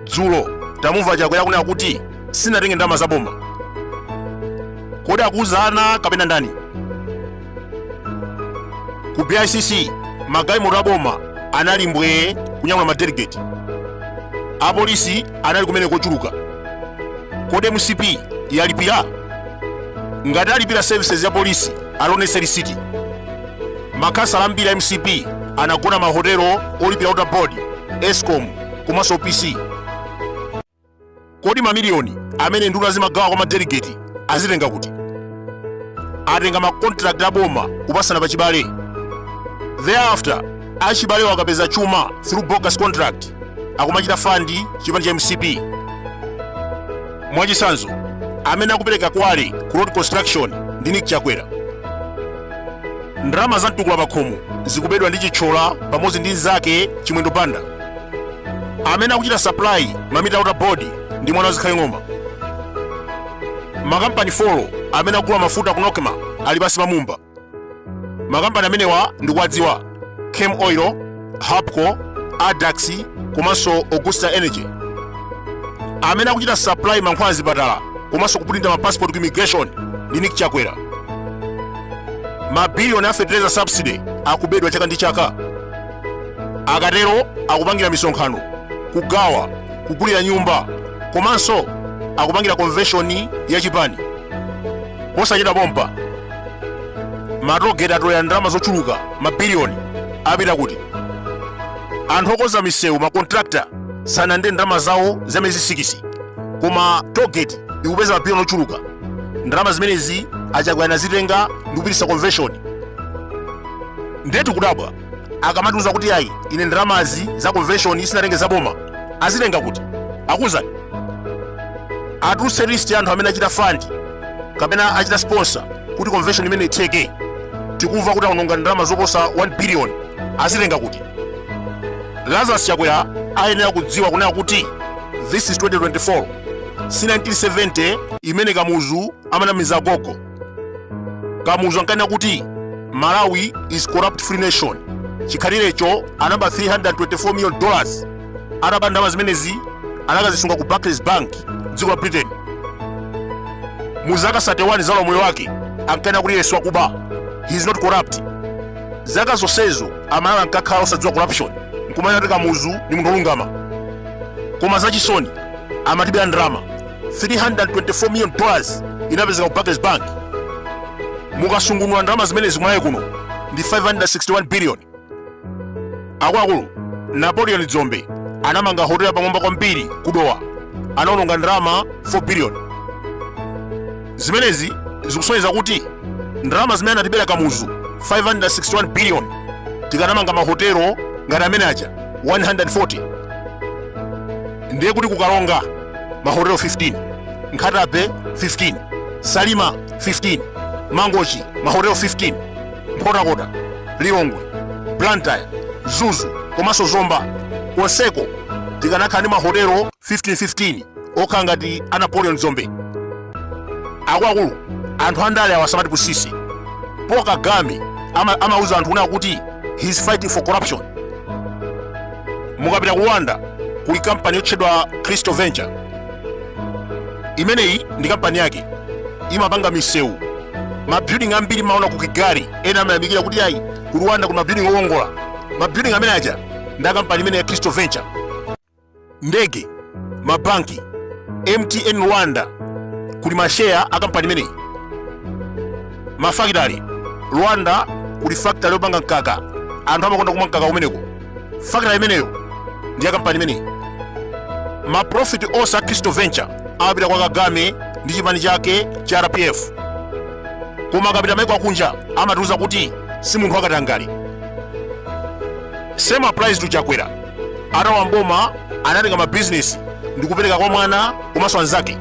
dzulo tamumva chakwera akunena kuti sanatenge ndalama za boma kodi akuuza ana kapena ndani ku bicc magalimoto aboma anali mbwee kunyamula madelegeti apolisi anali kumene kochuluka kodi mcp yalipira ngati alipira services ya polisi alonese lisiti makhansala ambiri a mcp anagona mahotelo olipira water board escom komanso opc Kodi mamiliyoni amene nduna zimagawa kwa madelegeti azitenga kuti? Atenga makontrakt a boma kupasana pa chibale. Thereafter, achibalewo akapeza chuma through bogus contract akumachita fandi chipani cha mcp mwachitsanzo amene akupereka quarry ku road construction ndi nick chakwera ndalama za mtukula pakhomo zikubedwa ndi chithyola pamodzi ndi mnzake chimwendo banda amene akuchita supply mamita a water board ndi mwana wazikhale ng'oma makampani 4 amene akugula mafuta ku nocma ali pansi pa mumba makampani amenewa ndikuwadziwa chem oil hapco adax komanso augusta energy amene akuchita supply mankhwala azipatala komanso kupulinta mapassport ku immigration ndi nick chakwera mabiliyoni a fertilizer subsidy akubedwa chaka ndi chaka akatero akupangira misonkhano kugawa kugulira nyumba komanso akupangira konveshoni ya chipani posachedwa pompa matogeti atolera ndalama zochuluka mabiliyoni apita kuti anthu okonza misewu makontrakta sanalandire ndalama zawo za miyezi sikisi koma togeti ikupeza mabiliyoni ochuluka ndalama zimenezi achakwera anazitenga ndi kupititsa konveshoni ndetu kudabwa akamatiuza kuti ayi ine ndalamazi za convention sinatenge za boma azitenga kuti auzeni atuluse list ya anthu amene achita fund kapena achita sponsor kuti convention imeneyi itheke tikumva kuti aononga ndalama zoposa 1 billion azitenga kuti lazarus chakwera ayenera kudziwa kunena kuti this is 2024 si 1970 imene kamuzu amanamiza gogo kamuzu ankanena kuti malawi is corrupt free nation chikhalirecho anaba 324 million dollars ataba ndalama zimenezi anakazisunga ku barclays bank mdziko la britain mu zaka 31 za ulamuliro wake ankanena kuti iye si wakuba he is not corrupt zaka zonsezo amalawi ankakhala osadziwa corruption nkumanena kuti kamuzu ni munthu olungama koma zachisoni amatibera ndalama 324 million dollars inapezeka ku Barclays Bank. Mukasungunula ndalama zimenezi m'Malawi kuno ndi 561 billion. Akuluakulu, Napoleon Dzombe anamanga hotela yapamwamba kwambiri ku Dowa. Anaononga ndalama 4 billion. Zimenezi zikusonyeza kuti ndalama zimene anatibera Kamuzu 561 billion tikanamanga mahotelo ngati amene aja 140 ndiye kuti ku Karonga mahotelo 15 nkhata bay 15 salima 15 mangochi mahotelo 15 nkhotakota lilongwe blantyre mzuzu komanso zomba konseko tikanakhala ndi mahotelo 15 15 okhala ngati a napoleon dzombe akuluakulu anthu andale awa asamatipusitse paul kagame ama- amauza anthu kunena kuti he's fighting for corruption mukapita ku rwanda kuli kampani yotchedwa crystal venture imeneyi ndi kampani yake imapanga misewu mabuilding ambiri mumaona ku kigali ena amayamikira kuti ayi ku rwanda kuli mabuilding olongosoka mabuilding amene aja ndi akampani imeneyi ya crystal venture ndege mabanki mtn rwanda kuli masheya akampani imeneyi mafakitale rwanda kuli fakitale yopanga mkaka anthu amakonda kumwa mkaka kumeneko fakitale imeneyo ndi ya kampani imeneyi maprofiti onse a crystal venture amapita kwa kagame ndi chipani chake cha rpf koma akapita maiko a kunja amatiuza kuti si munthu wakatangale same applies to chakwera atalowa m'boma anatenga mabizinesi ndi kupereka kwa mwana komanso anzake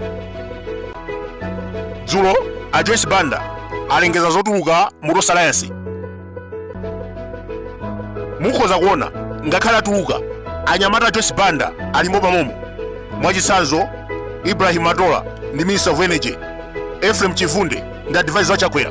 dzulo a joyce banda alengeza zotuluka mu tonse alliance mukhoza kuona ngakhale atuluka anyamata a joyce banda alimo mommo mwachitsanzo ibrahim matola ndi minister of energy ephraim chibvunde ndi advisor wa chakwera